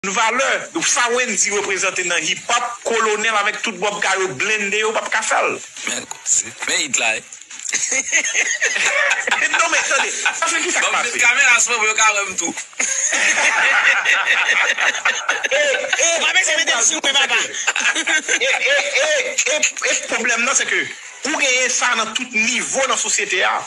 N valè sa Wendyy reprezante nan hip hop kolonel avek tout bob ka yo blende yo pap ka fèl. Men koze, men it la wi. Non men tande, paske kisa k pase. Banm met kamera sou mwen pou yo ka wèm tou. E pa bese metem sou mwen papa. E pwoblèm nan se ke ou genyen sa nan tout nivo nan sosyete a.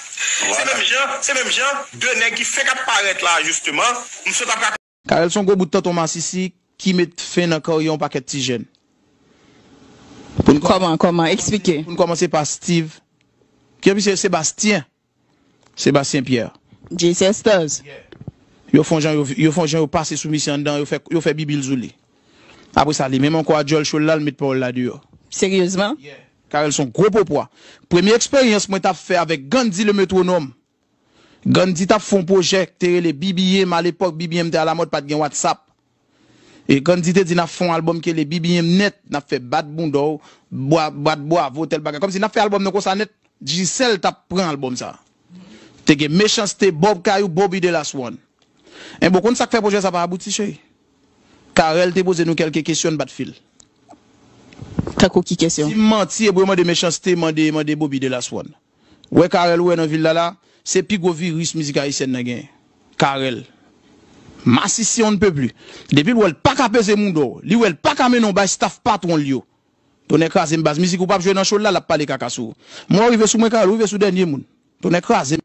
Se menm jan, se menm jan 2 nèg ki fenk ap parèt la jisteman, m sot ap. Carel son gwo bout tonton masisi ki met fen nan karyè yon pakèt ti jèn. Pou n Kòman, kòman? Eksplike. Pou n kòmanse pa Steve Pierre pi se Sebastien, Sébastien Pierre. Jay Sisters. Yeah. Yo fon jan yo yo fon jan yo pase sou misye anndan yo fè yo fè bibi l sou li. Apre sa li menm ankò a djòl cho l la l met pawòl la deyò. Seryezman? Yeah. Carel son gwo popwa. Premye eksperyans mwen t ap fè avèk Gandhi le Metronome Gandhi tap fon pwojè k te rele BBM alepòk BBM te alamòd pat gen WhatsApp e Gandhi te di nap fon album ki rele BBM nèt nap fè bat bounda w bat bwavo tèl bagay kòmsi nap fè album nou konsa nèt Digicel tap pran album sa te gen Mechanste Bob Kayou Bobby de Last One enben w konn sak fè pwojè sa pa abouti cheri Carel te poze nou kèlke kesyon n bat fil. Tankou ki kesyon? Sim manti ebouyo mande Mechanste mande mande Bobby de Last One. Wè Carel ou wè nan vil la la, se pi gwo viris mizik ayisyèn nan genyen. Carel. Masisi on ne peut plus. Depi l wè l paka peze moudon, li wè l paka mennen w bay staff patwon l yo. Tonnè kraze m baz mizik ou pap jwe nan show l la, l ap pale kaka sou ou. Mò rive sou mwen Carel ou rive sou dènye moun. Tonnè kraze m.